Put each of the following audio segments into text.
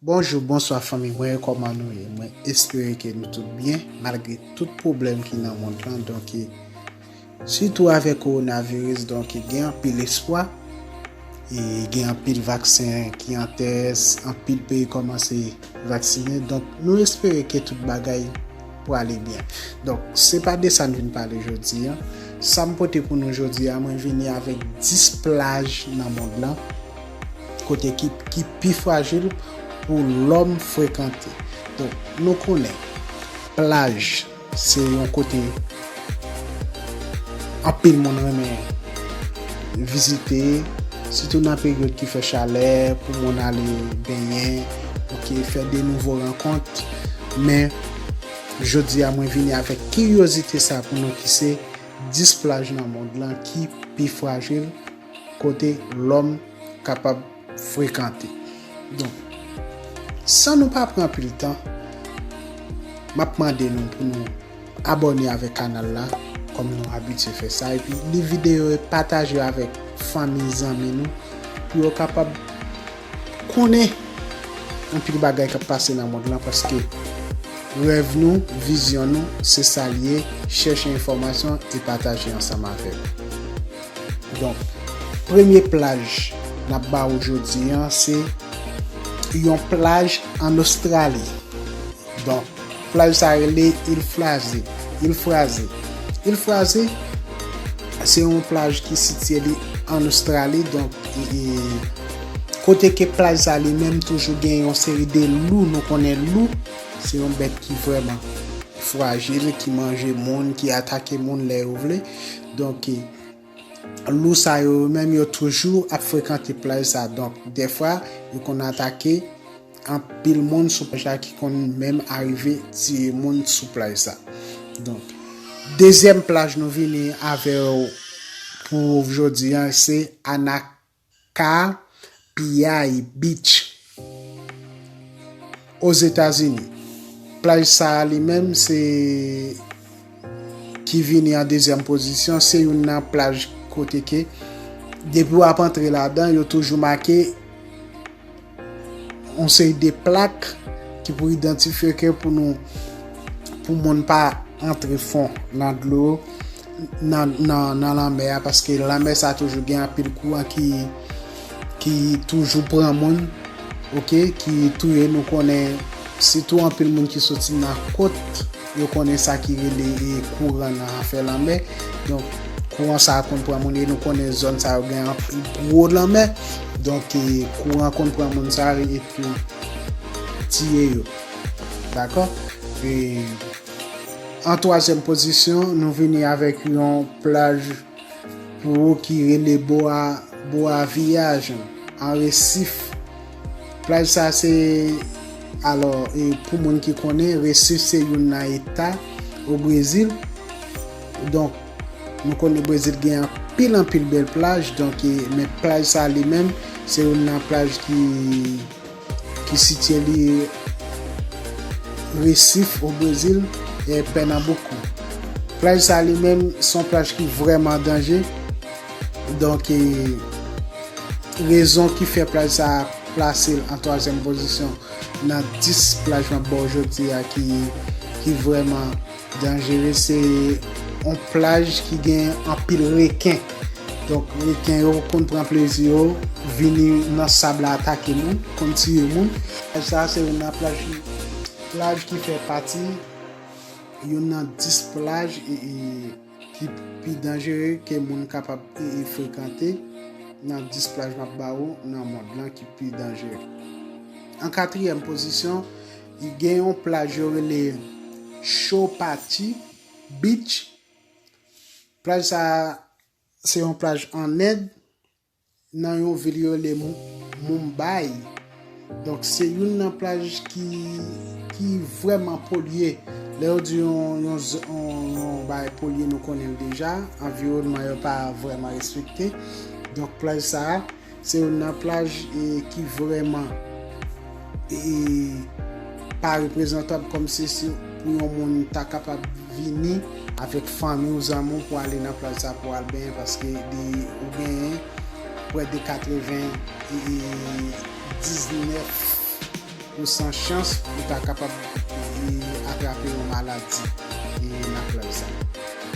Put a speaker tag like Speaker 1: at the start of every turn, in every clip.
Speaker 1: Bonjou bonswa fanmi mwen yo kòman nou ye mwen espere ke nou tout byen malgre tout pwoblèm ki nan mond lan donke sitou avèk kowona viris donke gen anpil espwa e gen anpil vaksen ki an tès anpil peyi kòmanse vaksinen donk nou espere ke tout bagay prale byen donk se pa de sa n vin pale jodi a sa m pote pou nou jodi a mwen vini avèk 10 plaj nan mond lan Kote ki pi frajil pou lòm frekante. Donk, nou konnen plaj se yon kote anpil moun renmen vizite, sitou nan peryòd ki fè chalè, pou moun ale benyen, ok, fè de nouvo rankont. Men, jodi a mwen vini avèk kiryozite sa pou nou ki se 10 plaj nan mond lan ki pi frajil. Kote lòm kapab frekante. Donk, san nou pa pran anpil tan, m ap mande nou pou nou abòne avèk kanal la, kòm nou abitye fè sa, epi li videyo e pataje yo avèk fanmi, zanmi nou, pou yo kapab konnen anpil bagay k ap pase nan mond lan, paske rèv nou, vizyon nou, se sa l ye, chèche enfòmasyon e pataje ansanm avè nou. Donk, premye plaj n ap ba ou jodi an se yon plaj ann Ostrali. Donk, plaj sa rele Il Fraze, Il Fraze. Il Fraze se yon plaj ki sitye li ann Ostrali. Donk, kote ke plaj sa li menm toujou gen yon seri de lou. Nou konnen lou, se yon bèt ki vrèman frajil, ki manje moun, ki atake moun lè yo vle. Donk, lou sa yo yo menm yo toujou ap frekante plaj sa. Donk, dèfwa yo konn atake anpil moun sou plaj la ki konn menm arive tiye moun sou plaj sa. Donk, dezyèm plaj nou vini avè yo pou jodi an se Ana ka piyay beach Ozetazini. Plaj sa a li menm se ki vini an dezyèm pozisyon, se youn nan plaj kote ke depi w ap antre ladan yo toujou make yon seri de plak ki pou idantifye ke pou nou pou moun pa antre fon nan dlo nan lanmè a paske lanmè sa toujou gen anpil kouran ki toujou pran moun ok ki touye nou konnen sitou anpil moun ki soti nan kot Yo konnen sa ki rele kouran nan afè lanmè. Donk, kouran sa a konn pran moun e nou konnen zòn sa yo gen anpil gwo lanmè. Donk, kouran konn pran moun sa yo epi tiye yo. Dakò? E, an twazyèm pozisyon, nou vini avèk yon plaj. Pwo ki rele Boa Boa Viagem an Resif. Plaj sa se alò e pou moun ki konnen Resif se youn nan eta o Brezil. Donk nou konnen Brezil gen anpil anpil bèl plaj donk e men plaj sa li menm se youn nan plaj ki ki sitye li Resif o Brezil e Pènanboukou. Plaj sa li menm son plaj ki vrèman danje, donk e rezon ki fè plaj sa plase l an twazyèm pozisyon nan 10 plaj map ba w jodi a ki vrèman Danjere se yon plaj ki gen anpil reken. Donk reken yo konn pran plezi yo vini nan sab la atake moun, konn tiye moun. Plaj sa se youn nan plaj ki plaj ki fè pati youn nan 10 plaj ki pi danjere ke moun kapab frekante nan 10 plaj m ap ba ou nan mond lan ki pi danjere. An katriyèm pozisyon. Gen yon plaj yo rele Chowpatty Beach. Plaj sa a se yon plaj ann End, nan yon vil yo rele Mumbai. Donk se youn nan plaj ki vrèman polye. Lè yo di yon bagay polye nou konnen l deja, anviwònman yo pa vrèman respekte. Donk plaj sa a Se youn nan plaj ki vrèman pa reprezantab kòm se pou yon moun ta kapab vini avèk fanmi ou zanmi ou pou ale nan plaj sa pou al benyen paske ou genyen prè de 90 e 19. Ou san chans ou ta kapab atrape yon maladi nan plaj sa.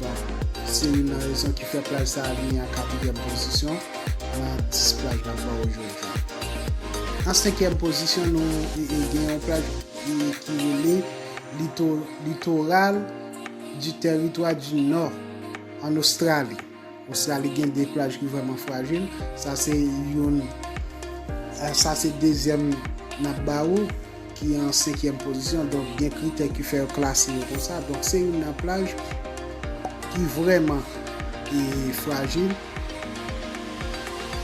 Speaker 1: Donk, se youn nan rezon ki fè plaj sa vini an katryèm pozisyon nan 10 plaj nap wè ojodi a. An senkyèm pozisyon nou gen yon plaj ki rele Litoral du Territoire du Nord an Ostrali. Ostrali gen 2 plaj ki vrèman frajil, sa se youn, sa se dezyèm nap ba ou ki an senkyèm pozisyon, donk gen kritè ki fè yo klase yo konsa, donk se youn nan plaj ki vrèman frajil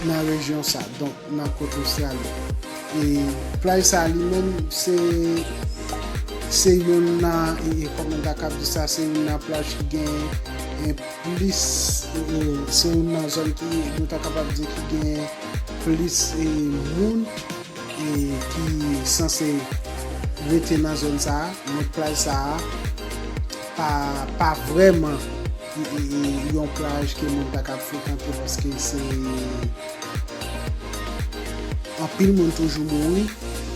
Speaker 1: nan rejyon sa, donk nan kot Ostrali. E plaj sa li menm se, se youn nan, kòman ta kab di sa, se youn nan plaj ki gen. Plis se youn nan zòn ki nou ta kapab di ki gen plis moun ki sanse rete nan zòn sa a. Men plaj sa a pa vrèman yon plaj ke moun ta ka frekante paske se anpil moun toujou mouri.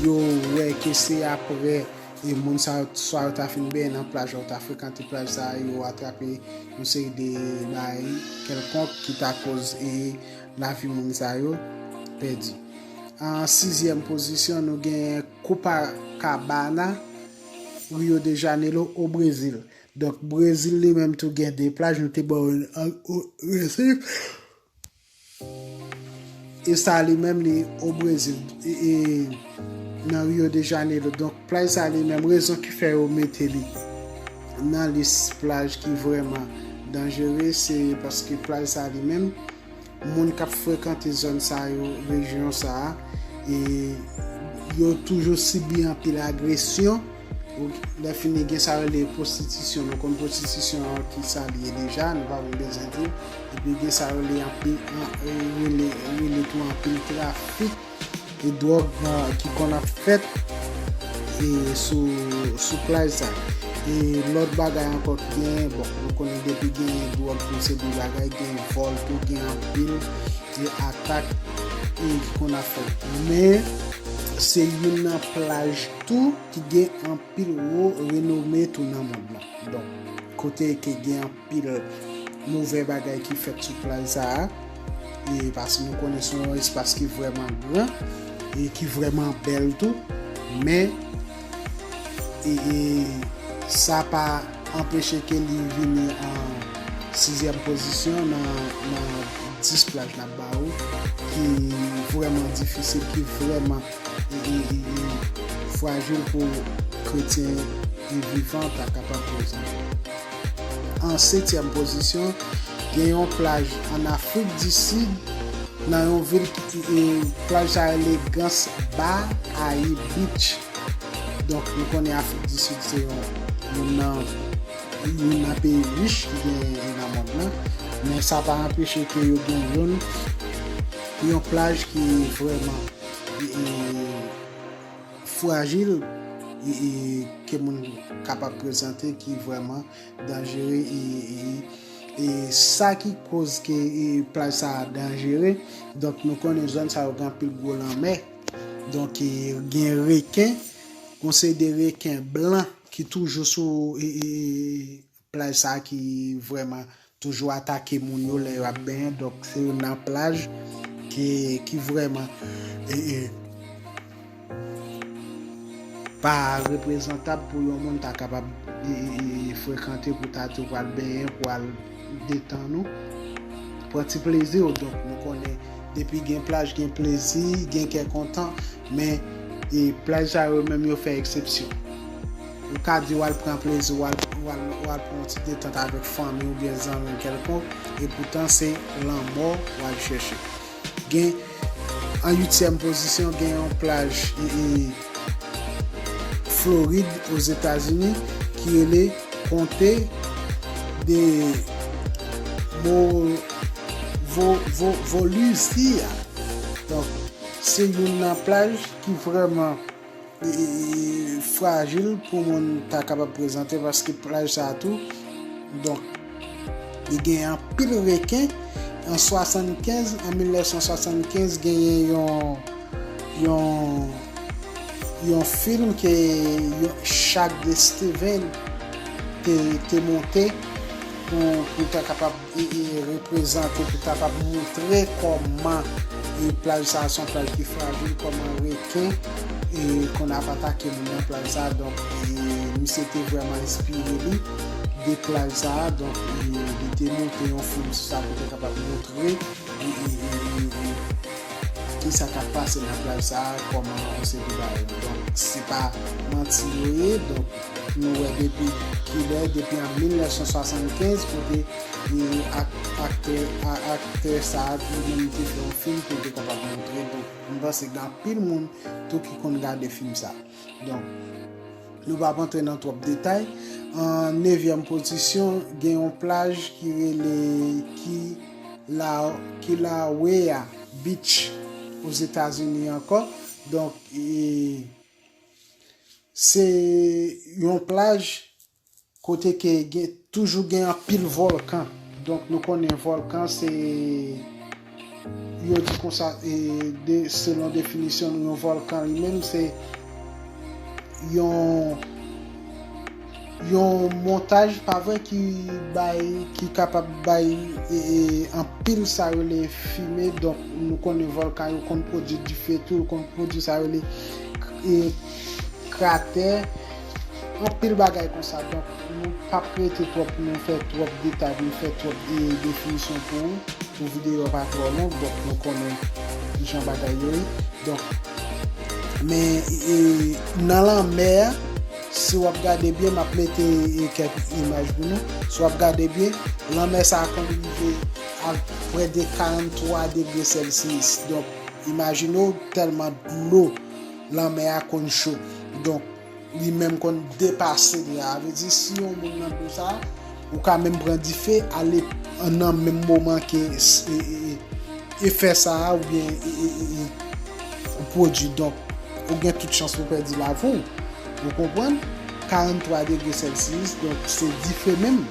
Speaker 1: Yo wè ke se aprè. E moun sa yo swa yo ta fin benyen nan plaj la ou ta frekante plaj sa a yo atrape yon seri de bagay kèlkonk ki ta koz e lavi moun sa yo pèdi. An sizyèm pozisyon nou genyen Copacabana, Rio de Janeiro o Brezil. Donk Brezil li menm tou gen 2 plaj nou te ba ou an resif. E sa li menm li o Brezil. E nan Rio de Janeiro. Donk plaj sa li menm rezon ki fè yo mete li. Nan lis plaj ki vreman danjere se paske plaj sa li menm. Moun kap frekante zon sa yo, rejyon sa. E yo toujou sibi anpil agresyon. Lèfini gen sa yo rele pwostitisyon, nou konn pwostitisyon an ki sa li ye deja, nou pa menm bezwen di, epi gen sa yo rele tou anpil trafik e dwòg ki konn ap fèt sou plaj sa. E lòt bagay ankò ki genyen, bon nou konnen depi genyen dwòg tou se gwo bagay, gen vòl tou, gen anpil e atak ki konn ap fèt. Men se youn nan plaj. Tou ki gen anpil wo renome tou nan mond lan. Donk, kote ke gen anpil movè bagay ki fèt sou plaj sa a, e paske nou konnen se yon espas ki vrèman gran, e ki vrèman bèl tou, men, e, e, sa pa anpeche ke li vini an sizyèm pozisyon nan, nan 10 plaj n ap ba ou, ki vrèman difisil, ki vrèman. frajil pou kretyen e vivan ta kapab prezan. An setyèm pozisyon, gen yon plaj an Afrik di Sid nan yon vil ki plaj sa rele Gans Ba Ayi Beach. Donk nou konnen Afrik di Sid se yon youn nan peyi rich ki genyen nan mond lan, men sa pa anpeche ke yo gen youn yon plaj ki vreman frajil ke moun kapab prezante ki vreman danjere e sa ki koz ke plaj sa a danjere donk nou konnen zòn sa yo gen anpil gwo lanmè donk gen reken gon se de reken blan ki toujou sou Plaj sa ki vrèman toujou atake moun yo lè yo ap benyen donk se youn nan plaj ki vrèman pa reprezantab pou yon moun ta kapab frekante pou ta tou pral benyen pou al detann ou pran ti plezi w donk nou konnen depi gen plaj gen plezi gen kè kontan men plaj sa yo menm yo fè eksepsyon. Ou ka di w al pran plezi w, ou al pran yon ti detant avèk fanmi ou byen zanmi w kèlkonk, epoutan se lanmò w al chèche. Gen, an uityèm pozisyon, gen yon plaj Florid Ozetazini ki rele Konte de Volusia. Donk, se youn nan plaj ki vrèman. frajil pou moun ta kapab prezante paske plaj sa a tou donk li gen anpil reken an 75 an 1975 genyen yon yon yon film ke yon chak de Steven te monte pou ta kapab reprezante pou kapab moutre kòman plaj sa son plaj ki frajil kòman reken konn ap atake moun nan plaj sa donk misye te vrèman enspire li de plaj sa donk li te monte yon fim sou sa pou te kapab moutre kisa kap pase nan plaj sa kòman se pa manti yo ye donk Nou wè depi kilè, depi an 1975 kote aktè aktè sa a li menm li te fè yon fim pou l te kapab montre donk m panse gen anpil moun tou ki konn gade fim sa donk nou pap antre nan twòp detay an nevyèm pozisyon gen yon plaj ki rele ki la ki la wea beach ozetazini ankò donk e. Se yon plaj kote ke gen toujou gen anpil vòlkan. Donk nou konnen vòlkan se yo di konsa e de selon definisyon nou yon vòlkan li menm se yon Yon montaj pa vre ki bay ki kapab bay anpil sa rele fime donk nou konnen volkan yo konn pwodwi dife tou yo konn pwodwi sa rele kratè anpil bagay konsa donk nou pap rete twòp pou nou fè twòp detay pou nou fè twòp definisyon pou ou pou videyo a pa twò long donk nou konnen kijan bagay yo ye donk men nan lanmè a. Si wap gade byen map mete kek imaj pou nou. Si wap gade byen lanmè sa konn rive a près de 43 degre celsius. Donk imajine w telman dlo lanmè a konn cho. Donk li menm konn depase de a. Sa vle di si yon moun nan dlo sa. Ou ka menm pran dife ale nan menm moman ke efè sa a ou byen ou pwodui. Donk, ou gen tout chans pou pèdi lavi ou. Ou konprann? 43 degre Celsius, donk se dife menm.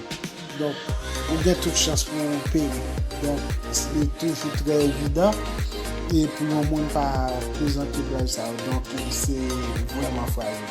Speaker 1: Donk, ou gen tout chans pou ou peri. Donk, li toujou trè evidan e pou yon moun pa prezante prèv sa yo. Donk, se vreman frajil.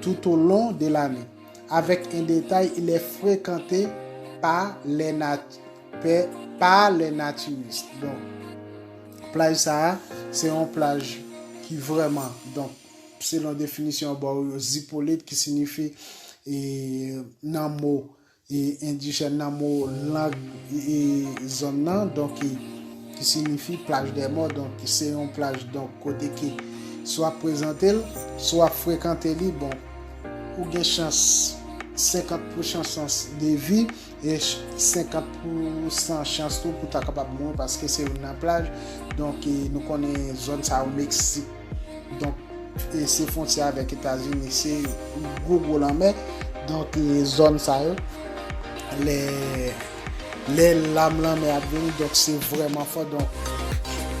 Speaker 1: toutolon de lane, avèk en detay il est frekante pa les nat pe pa les naturistes donk plaj sa a se yon plaj ki vrèman donk selon definisyon bò yo zipolit ki sinifi e nan mo E endijèn nan mo lang e zòn nan donk e ki sinifi plaj dè mò donk ki se yon plaj donk kote ke si wap prezante l si wap frekante li bon ou gen chans 50 pou chan chans de vi e 50 pou san chans tou pou ta kapab mouri paske se youn nan plaj donk e nou konnen zòn sa yo meksik. Donk, se fontyè avèk Etazini, se gwo gwo lanmè. Donk, zòn sa yo, lè lam lanmè ap vini, donk se vrèman fò. Donk,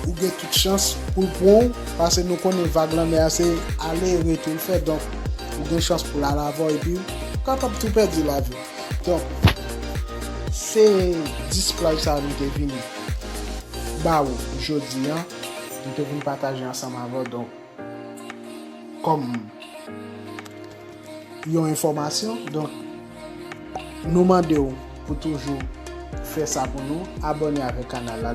Speaker 1: ou gen tout chans pou l pran ou, pase nou konnen vag lanmè a se ale rete l fè. Donk, ou gen chans pou l al avè w epi ou kapab tou pèdi lavi w. Donk, se 10 plaj sa a nou te vini ba ou jodi an. M te vin pataje ansanm avè w donk kòm yon enfòmasyon donk nou mande w pou toujou fè sa pou nou abòne avèk kanal la.